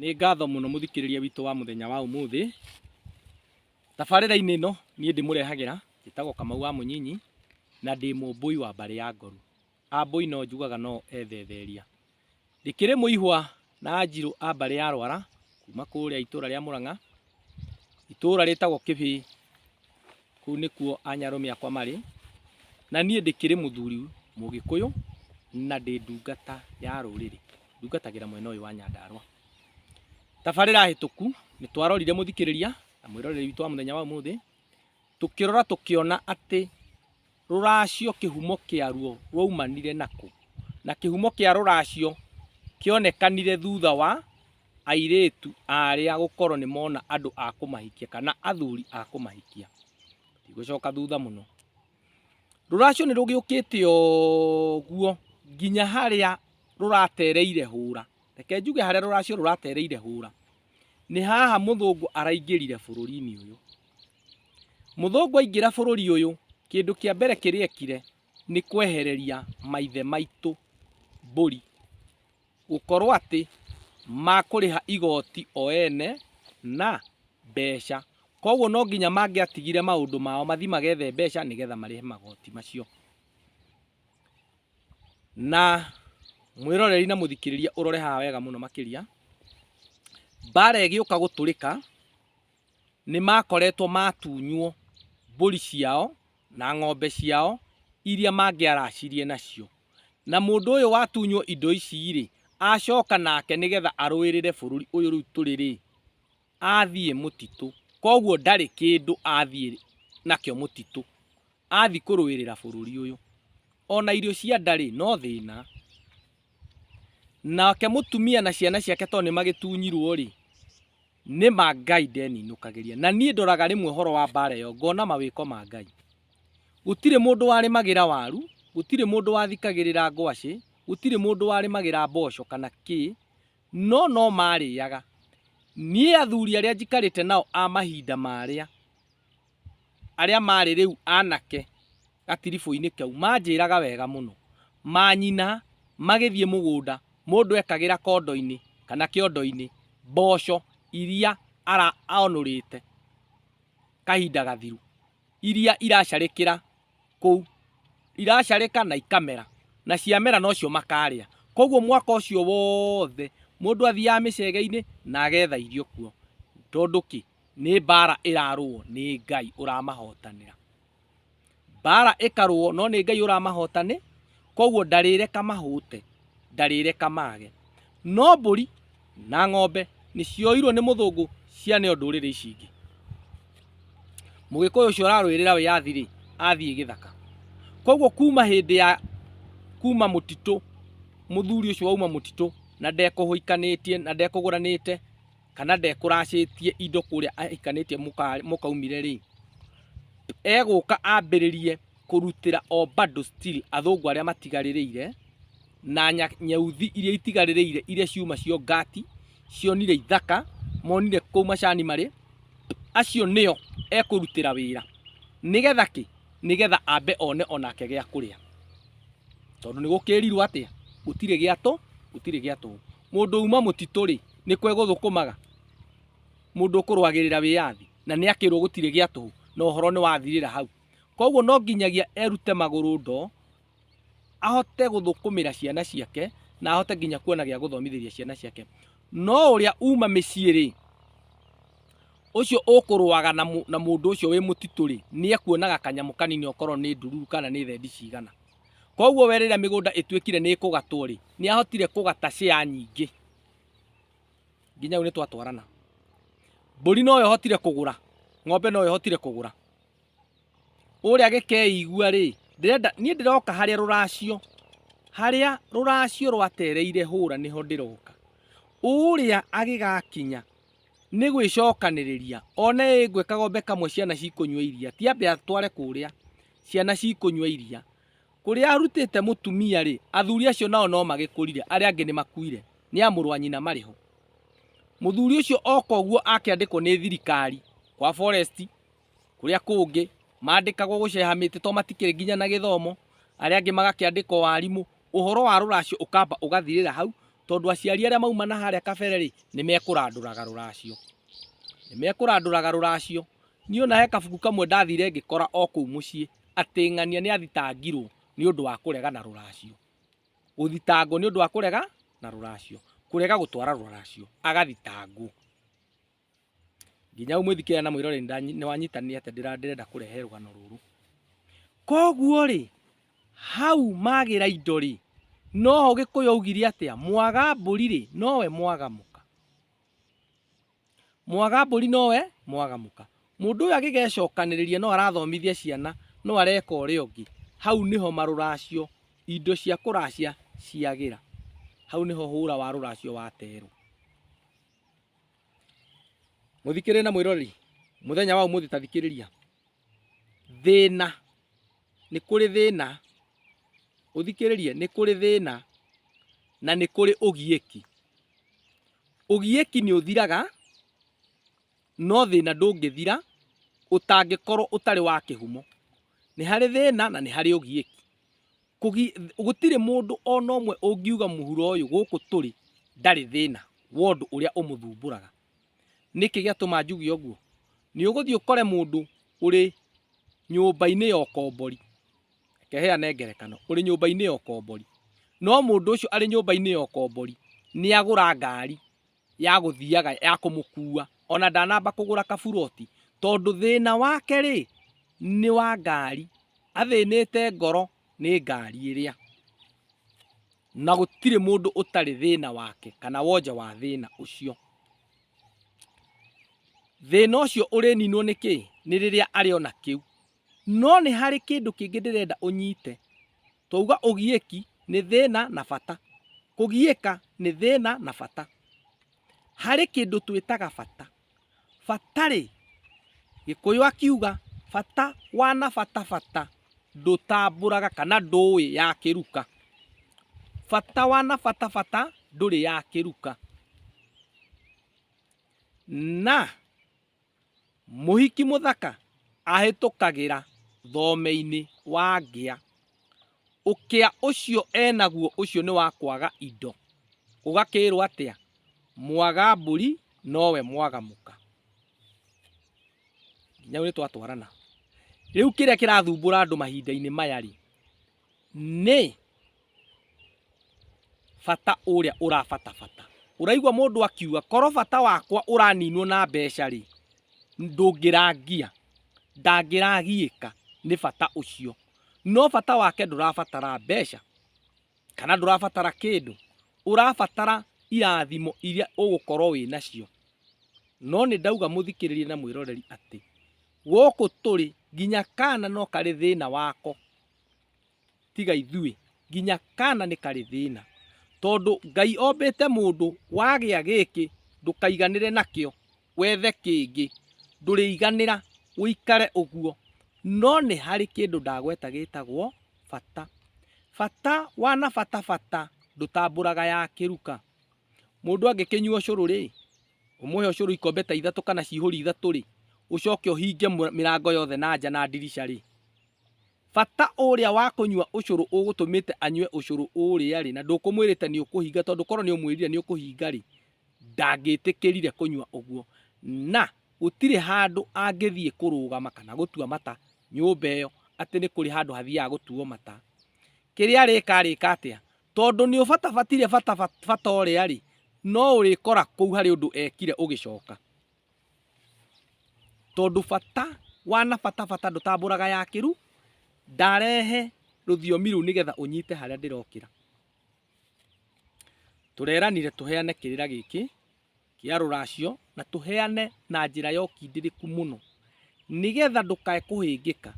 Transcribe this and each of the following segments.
Nĩ ngatho mũno mũthikĩrĩria witũ wa mũthenya wa ũmũthĩ. Tabarĩra-inĩ ĩno niĩ ndĩmũrehagĩra njĩtagwo Kamau wa Mũnyinyi na ndĩ mũmbũi wa mbarĩ ya Ngoru. Ambũi no njugaga no ethetheria. Ndĩkĩrĩ mũihwa na Anjirũ a mbarĩ ya Rwara kuma kũrĩa itũra rĩa Mũrang'a Itũũra rĩtagwo Kĩbĩĩ, kũu nĩkuo anyarũme akwa marĩ, na niĩ ndĩkĩrĩ mũthuri mũgĩkũyũ na ndĩ ndungata ya rũrĩrĩ, ndungatagĩra mwena ũyũ wa Nyandarũa. Tabarĩra hĩtũku nĩtwarorire mũthikĩrĩria na mwĩroreri witũ wa mũthenya wa ũmũthĩ. Tũkĩrora tũkĩona atĩ rũracio kĩhumo kĩaruo rwaumanire nakũ, na kĩhumo kĩa rũracio kĩonekanire thutha wa airĩtu arĩa gũkorwo nĩ mona andũ a kũmahikia kana athuri a kũmahikia. Ndigũcoka thutha mũno. Rũracio nĩ rũgĩũkĩte ũguo nginya harĩa rũratereire hũra, reke njuge harĩa rũracio rũratereire hũra. Nĩ haha mũthũngũ araingĩrire bũrũri-inĩ ũyũ. Mũthũngũ aingĩra bũrũri ũyũ, kĩndũ kĩa mbere kĩrĩa ekire nĩ kwehereria maithe maitũ mbũri, gũkorwo atĩ makũrĩha igoti o ene na mbeca. Koguo no nginya mangĩatigire maũndũ mao mathi magethe mbeca nĩgetha marĩhe magoti macio. Na mwĩroreri na mũthikĩrĩria ũrore haha wega mũno makĩria, mbara ĩgĩũka gũtũrĩka nĩ makoretwo matunywo mbũri ciao na ng'ombe ciao iria mangĩaracirie nacio. Na mũndũ ũyũ watunywo indo ici rĩ, acoka nake nĩgetha arũĩrĩre bũrũri ũyũ rĩu tũrĩ rĩ, athiĩ mũtitũ, koguo ndarĩ kĩndũ athiĩ nakĩo mũtitũ, athiĩ kũrũĩrĩra bũrũri ũyũ. Ona irio cia ndarĩ no thĩna. Nake mũtumia na ciana ciake tondũ nĩ magĩtunyirwo rĩ, nĩ ma Ngai ndeninũkagĩria. Na niĩ ndoraga rĩmwe ũhoro wa mbara ĩyo ngona mawĩko ma Ngai. Gũtirĩ mũndũ warĩmagĩra waru, gũtirĩ mũndũ wathikagĩrĩra ngwacĩ, gũtirĩ mũndũ warĩmagĩra mboco kana kĩ, No no maarĩaga. Niĩ athuri arĩa njikarĩte nao a mahinda marĩa, arĩa maarĩ rĩu anake gatiribũ-inĩ kau, maanjĩraga wega mũno. Manyina magĩthiĩ mũgũnda, mũndũ ekagĩra kondo-inĩ kana kĩondo-inĩ mboco iria onũrĩte kahinda gathiru, iria iracarĩkĩra kũu iracarĩka na ikamera na ciamera nocio makarĩa koguo mwaka ũcio wothe mũndũ athiaga mĩcegeinĩ na agetha irio kuo tondũ kĩ nĩ mbara ĩrarũo nĩ Ngai ũramahotanĩra mbara ĩkarũo no nĩ Ngai ũramahotani koguo ndarĩreka mahũte ndarĩreka mage no mbũri na ng'ombe nĩ cioirwo nĩ mũthũngũ cianeo ndũrĩrĩ ici ingĩ mũgĩkũyũ ũcio ũrarũĩrĩra wĩyathi rĩ athiĩ gĩthaka koguo kuma hĩndĩ ya kuma mũtitũ mũthuri ũcio wauma mũtitũ na ndekũhũikanĩtie na ndekũgũranĩte kana ndekũracĩtie indo kũrĩa ahikanĩtie mũka- mũkaumire rĩ egũka ambĩrĩrie kũrutĩra o bado still athũngũ arĩa matigarĩrĩire na nyauthi iria itigarĩrĩire iria ciuma cio Gati cionire ithaka monire kũu macani marĩ acio nĩo ekũrutĩra wĩra nĩgetha kĩ nĩgetha ambe one onake gĩa kũrĩa tondũ nĩ gũkĩrirwo atĩa gũtirĩ gĩa tũ gũtirĩ gĩa tũ mũndũ uma mũtitũ rĩ nĩ kwe gũthũkũmaga mũndũ ũkũrwagĩrĩra wĩyathi na nĩ akĩrwo gũtirĩ gĩa tũ na ũhoro nĩ wathirĩra hau koguo no nginyagia erute magũrũ ndoo ahote gũthũkũmĩra ciana ciake na ahote nginya kuona gĩa gũthomithĩria ciana ciake no ũrĩa uma mĩciĩ rĩ ũcio ũkũrũaga na mũ- na mũndũ ũcio wĩ mũtitũ rĩ nĩ ekuonaga kanyamũ kanini okorwo nĩ ndururu kana nĩ thendi cigana koguo we rĩrĩa mĩgũnda ĩtuĩkire nĩ ĩkũgatwo rĩ nĩ ahotire kũgata share nyingĩ nginya rĩu nĩ twatwarana mbũri no ĩhotire kũgũra ng'ombe no ĩhotire kũgũra ũrĩa gĩkeigua rĩ ndĩrenda niĩ ndĩroka harĩa rũracio harĩa rũracio rwatereire hũra nĩho ndĩroka ũrĩa agĩgakinya nĩ gwĩcokanĩrĩria one ĩngwe kagombe kamwe ciana cikũnyua iria tiambe atware kũrĩa ciana cikũnyua iria kũrĩa arutĩte mũtumia rĩ athuri acio nao no magĩkũrire arĩa angĩ nĩ makuire nĩ a mũrũ wa nyina marĩ ho mũthuri ũcio oka ũguo akĩandĩkwo nĩ thirikari kwa forest kũrĩa kũngĩ mandĩkagwo gũceha mĩtĩ to matikĩrĩ nginya na gĩthomo, arĩa angĩ magakĩandĩkwo warimũ, ũhoro wa rũracio ũkamba ũgathirĩra hau, tondũ aciari arĩa mauma na harĩa kabere rĩ, nĩ mekũrandũraga rũracio, nĩ mekũrandũraga rũracio. Niĩ ona he kabuku kamwe ndathire ngĩkora o kũu mũciĩ, atĩ ng'ania nĩ athitangirwo nĩ ũndũ wa kũrega na rũracio, gũthitangwo nĩ ũndũ wa kũrega na rũracio, kũrega gũtwara rũracio, agathitangwo. nginya umwĩthikĩra na mwĩrore nĩ wanyitanĩra atĩ ndĩrenda kũrehe rũgano rũrũ koguo rĩ hau magĩra indo rĩ noho gĩkũyũ augire atĩa mwaga mbũri rĩ nowe mwaga mũka mwaga mbũri nowe mwaga mũka mũndũ ũyũ agĩgecokanĩrĩria no arathomithia ciana no areka ũrĩa ũngĩ hau nĩho marũracio indo cia kũracia ciagĩra hau nĩho hũra wa rũracio waterwo Mũthikĩrĩria na mwĩrori, mũthenya wa ũmũthĩ tathikĩrĩria. Thĩna, nĩ kũrĩ thĩna, ũthikĩrĩrie, nĩ kũrĩ thĩna na nĩ kũrĩ ũgiĩki. Ũgiĩki nĩ ũthiraga, no thĩna ndũngĩthira ũtangĩkorwo ũtarĩ wa kĩhumo. Nĩ harĩ thĩna na nĩ harĩ ũgiĩki. Gũtirĩ mũndũ ona ũmwe ũngiuga mũhuro ũyũ gũkũ tũrĩ ndarĩ thĩna wa ũndũ ũrĩa ũmũthumbũraga. Nĩkĩ gĩatũma njuge ũguo? Nĩ ũgũthiĩ ũkore mũndũ ũrĩ nyũmba-inĩ ya ũkombori, reke heane ngerekano, ũrĩ nyũmba-inĩ ya ũkombori, no mũndũ ũcio arĩ nyũmba-inĩ ya ũkombori nĩ agũra ngari ya gũthiaga ya kũmũkua ona ndanamba kũgũra kaburoti tondũ thĩna wake rĩ nĩ wa ngari athĩnĩte ngoro nĩ ngari ĩrĩa na gũtirĩ mũndũ ũtarĩ thĩna wake kana wonje wa thĩna ũcio thĩna ũcio ũrĩninwo nĩ kĩ nĩ rĩrĩa arĩ ona kĩu no nĩ harĩ kĩndũ kĩngĩ ndĩrenda ũnyite Twauga ũgiĩki nĩ thĩna na bata. Kũgiĩka nĩ thĩna na bata. Harĩ kĩndũ twĩtaga bata. Bata rĩ, Gĩkũyũ akiuga bata wana bata bata ndũtambũraga kana ndũĩ ya kĩruka. Bata wana bata bata ndũrĩ ya kĩruka. Na Mũhiki mũthaka ahĩtũkagĩra thomeinĩ wa ngĩa. Ũkĩa ũcio enaguo ũcio nĩ wa kwaga indo. Ũgakĩĩrwo atĩa? Mwaga mbũri nowe mwaga mũka. Nginya nĩ twatwarana. Rĩu kĩrĩa kĩrathumbũra andũ mahinda-inĩ maya-rĩ, nĩ bata ũrĩa ũrabatabata ũraigua mũndũ akiuga korwo bata wakwa ũraninwo na mbeca rĩ ndũngĩrangia ndangĩragiĩka nĩ bata ũcio no bata wake ndũrabatara mbeca kana ndũrabatara kĩndũ ũrabatara irathimo iria ũgũkorwo wĩ nacio no nĩ ndauga mũthikĩrĩrie na mwĩroreri atĩ gũkũ tũrĩ nginya kana no karĩ thĩna wako tiga ithuĩ nginya kana nĩ karĩ thĩna tondũ ngai ombĩte mũndũ wagĩa gĩkĩ ndũkaiganĩre nakĩo wethe kĩngĩ ndũrĩiganĩra ũikare ũguo no nĩ harĩ kĩndũ ndagweta gĩtagwo bata bata wana bata bata ndũtambũraga ya kĩruka mũndũ angĩkĩnyua ũcũrũ rĩ ũmũhe ũcũrũ ikombe ta ithatũ kana cihũri ithatũ rĩ ũcoke ũhinge mĩrango yothe na nja na ndirica rĩ Bata ũrĩa wa kũnyua ũcũrũ ũgũtũmĩte anyue ũcũrũ ũrĩa-rĩ, na ndũkũmwĩrĩte nĩũkũhinga, tondũ korwo nĩũmwĩrire nĩũkũhinga-rĩ, ndangĩtĩkĩrire kũnyua ũguo, na gũtirĩ handũ angĩthiĩ kũrũgama kana gũtua mata nyũmba ĩyo atĩ nĩ kũrĩ handũ hathiaga gũtuo mata. Kĩrĩa arĩka arĩka atĩa? Tondũ nĩũbatabatire bata ũrĩa-rĩ, no ũrĩkora kũu harĩ ũndũ ekire ũgĩcoka. tondũ bata wana bata bata ndũtambũraga yakĩru ndarehe rũthiomi rũu nĩgetha ũnyite harĩa ndĩrokĩra tũreranire tũheane kĩrĩra gĩkĩ kĩa rũracio na tũheane na njĩra ya ũkindĩrĩku mũno nĩgetha ndũkae kũhĩngĩka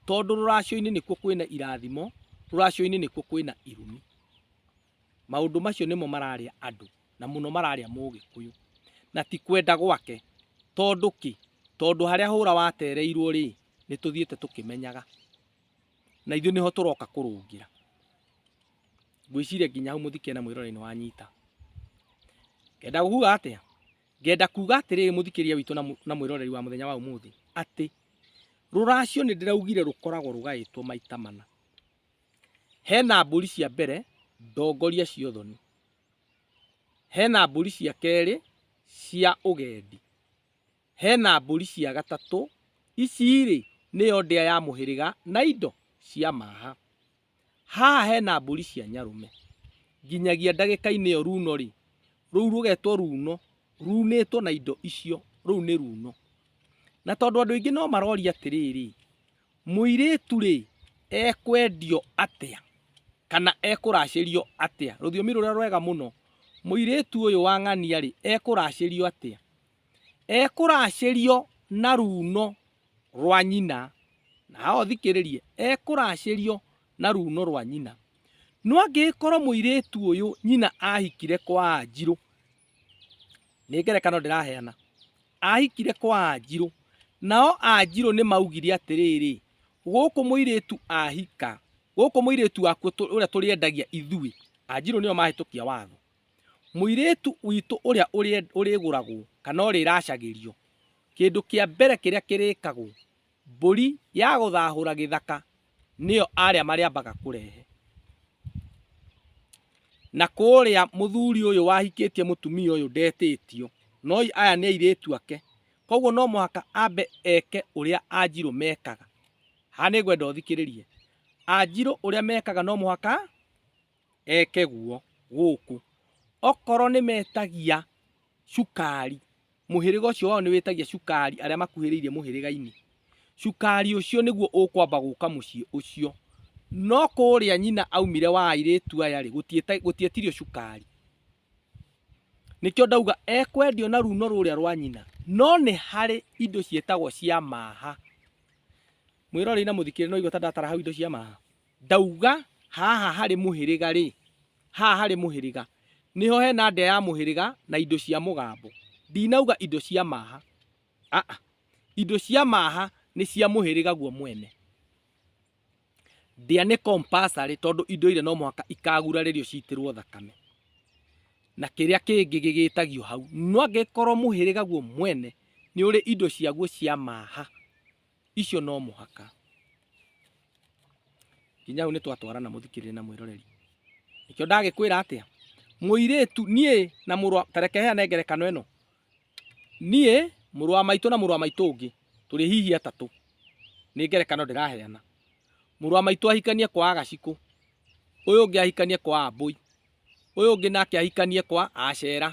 tondũ rũracio-inĩ nĩkuo kwĩna irathimo rũracio-inĩ nĩkuo kwĩna irumi Maũndũ macio nĩmo mararĩa andũ na mũno mararĩa mũgĩkũyũ na ti kwenda gwake. Tondũ kĩ? Tondũ harĩa hũra watereirwo rĩ, nĩ tũthiĩte tũkĩmenyaga na ithuĩ nĩho tũroka kũrũngĩra. Ngwĩciria nginya hau mũthikĩria na mwĩroreri nĩ wanyita. Ngenda kuga atĩa? Ngenda kuga atĩrĩrĩ mũthikĩria witũ na mwĩroreri wa mũthenya wa ũmũthĩ atĩ rũracio nĩ ndĩraugire rũkoragwo rũgaĩtwo maita mana. Hena mbũri cia mbere ndongoria cia ũthoni, hena mbũri cia kerĩ cia ũgendi, hena mbũri cia gatatũ, ici-rĩ nĩyo ndĩa ya mũhĩrĩga na indo cia maha. Haha hena mbũri cia nyarũme, nginyagia ndagĩka-inĩ ĩyo runo-rĩ, rũu rũgetwo runo, runĩtwo na indo icio, rũu nĩ runo. Na tondũ andũ aingĩ no maroria atĩrĩrĩ, Mũirĩtu-rĩ, ekwendio atĩa, kana ekũracĩrio atĩa? Rũthiomi rũrĩa rwega mũno, mũirĩtu ũyũ wa ng'ania-rĩ, ekũracĩrio atĩa? Ekũracĩrio na ruuno rwa nyina, na haha ũthikĩrĩrie, ekũracĩrio na ruuno rwa nyina. No angĩgĩkorwo mũirĩtu ũyũ nyina ahikire kwa Wanjirũ, nĩ ngerekano ndĩraheana ahikire kwa anjirũ nao anjirũ nĩ maugire atĩrĩrĩ gũkũ mũirĩtu ahika gũkũ mũirĩtu waku tũ- ũrĩa tũrĩendagia ithuĩ anjirũ nĩo mahĩtũkia watho mũirĩtu witũ ũrĩa ũrĩe- ũrĩgũragwo kana ũrĩracagĩrio kĩndũ kĩa mbere kĩrĩa kĩrĩkagwo Mbũri ya gũthahũra gĩthaka nĩyo arĩa marĩambaga kũrehe. Na kũrĩa mũthuri ũyũ wahikĩtie mũtumia ũyũ ndetĩtio, no aya nĩ airĩtu ake, koguo no mũhaka ambe eke ũrĩa Anjirũ mekaga. Haha nĩ ngwenda ũthikĩrĩrie. Anjirũ ũrĩa mekaga no mũhaka... eke guo gũkũ. Okorwo nĩ metagia cukari, mũhĩrĩga ũcio wao nĩ wĩtagia cukari arĩa makuhĩrĩirie mũhĩrĩga-inĩ, cukari ũcio nĩguo ũkwamba gũka mũciĩ ũcio. No kũrĩa nyina aumire wa airĩtu aya rĩ, gũtietirio cukari. Nĩkĩo ndauga ekwendio na runo rũrĩa rwa nyina. No nĩ harĩ indo ciĩtagwo cia maha. Mwĩrorei na mũthikĩrĩrie nĩ waigua ta ndatara hau indo cia maha? Ndauga haha harĩ mũhĩrĩga rĩ, haha harĩ mũhĩrĩga nĩho hena ndĩa ya mũhĩrĩga na indo cia mũgambo. Ndinauga indo cia maha, aa, indo cia maha nĩ cia mũhĩrĩga guo mwene. Ndĩa nĩ compulsory tondũ indo iria no mũhaka ikagurarĩrio citĩrwo thakame. Na kĩrĩa kĩngĩ gĩgĩtagio hau, no angĩkorwo mũhĩrĩga guo mwene nĩ ũrĩ indo ciaguo cia maha, icio no mũhaka nginya hau nĩ twatwarana mũthikĩrĩre na mwĩroreri nĩkĩo ndagĩkwĩra atĩa mũirĩtu niĩ na mũrwa tareke heane ngerekano ĩno niĩ mũrũ wa maitũ na mũrũ wa maitũ ũngĩ tũrĩ hihi atatũ nĩ ngerekano ndĩraheana mũrũ wa maitũ ahikanie kwa agacikũ ũyũ ũngĩ ahikanie kwa ambũi ũyũ ũngĩ nake ahikanie kwa acera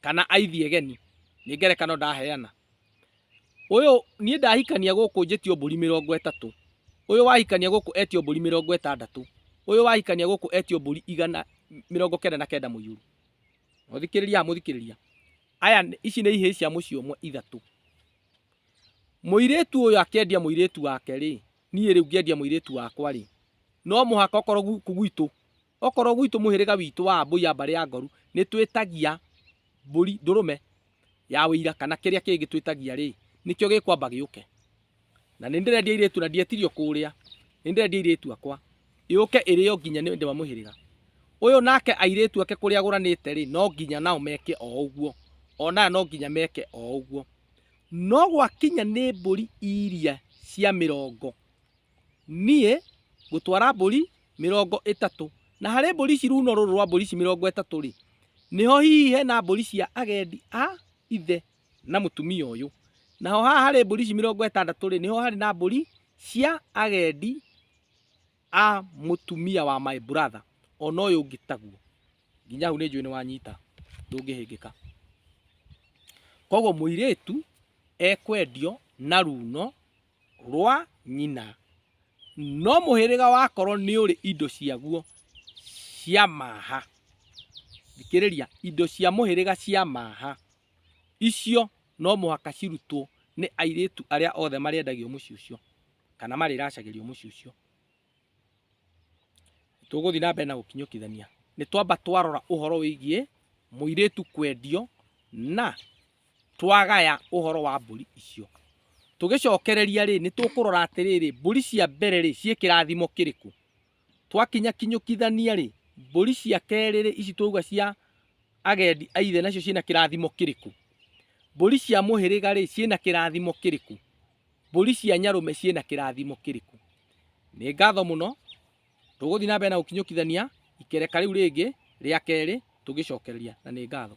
kana aithie geni nĩ ngerekano ndaheana ũyũ niĩ ndahikania gũkũ njĩtio mbũri mĩrongo ĩtatũ ũyũ wahikania gũkũ etio mbũri mĩrongo ĩtandatũ ũyũ wahikania gũkũ etio mbũri igana mĩrongo kenda na kenda mũiyũru mũthikĩrĩria mũthikĩrĩria aya ici nĩ ihĩĩ cia mũciĩ ũmwe ithatũ mũirĩtu ũyũ akĩendia mũirĩtu wake rĩ niĩ rĩu ngĩendia mũirĩtu wakwa rĩ no mũhaka okorwo gũkũ gwitũ Okorwo gwitũ mũhĩrĩga witũ wa Ambũi a mbarĩ ya Ngoru nĩ twĩtagia mbũri ndũrũme ya ũira kana kĩrĩa kĩngĩ twĩtagia rĩ, nĩkĩo gĩkwamba gĩũke. Na nĩ ndĩrendia airĩtu na ndietirio kũrĩa, nĩ ndĩrendia airĩtu akwa yũke ĩrĩo nginya nĩ ndĩ wa mũhĩrĩga ũyũ. Nake airĩtu ake kũrĩa agũranĩte rĩ, no nginya nao meke o ũguo, ona aya no nginya meke o ũguo. No gwakinya nĩ mbũri iria cia mĩrongo Niĩ ngũtwara mbũri mĩrongo ĩtatũ, na harĩ mbũri ici runo rũrũ rwa mbũri ici mĩrongo ĩtatũ-rĩ, nĩho hihi hena mbũri cia agendi a ithe na mũtumia ũyũ. Naho haha harĩ mbũri ici mĩrongo ĩtandatũ-rĩ, nĩho harĩ na mbũri cia agendi a mũtumia wa my brother, ona ũyũ ũngĩ taguo. Nginya hau nĩnjũĩ nĩwanyita, ndũngĩhĩngĩka. Kuoguo mũirĩtu ekwendio na runo. rwa nyina, no mũhĩrĩga wakorwo nĩ ũrĩ indo ciaguo cia maha, thikĩrĩria, indo cia mũhĩrĩga cia maha, icio no mũhaka cirutwo nĩ airĩtu arĩa othe marĩendagio mũciĩ ũcio, kana marĩracagĩrio mũciĩ ũcio. Tũgũthiĩ na mbere na gũkinyũkithania. Nĩ twamba twarora ũhoro wĩgiĩ mũirĩtu kwendio na twagaya ũhoro wa mbũri icio. Tũgĩcokereria rĩ, nĩ tũkũrora atĩrĩrĩ, mbũri cia mbere rĩ, ciĩ kĩrathimo kĩrĩkũ? Twakinya kinyũkithania rĩ, mbũri cia kerĩ rĩ, ici twauga cia agendi a ithe nacio ciĩna kĩrathimo kĩrĩkũ? Mbũri cia mũhĩrĩga rĩ, ciĩna kĩrathimo kĩrĩkũ? Mbũri cia Nyarũme ciĩna kĩrathimo kĩrĩkũ? Nĩ ngatho mũno. Tũgũthiĩ na mbere na gũkinyũkithania ikereka rĩu rĩngĩ rĩa kerĩ tũgĩcokereria na nĩ ngatho.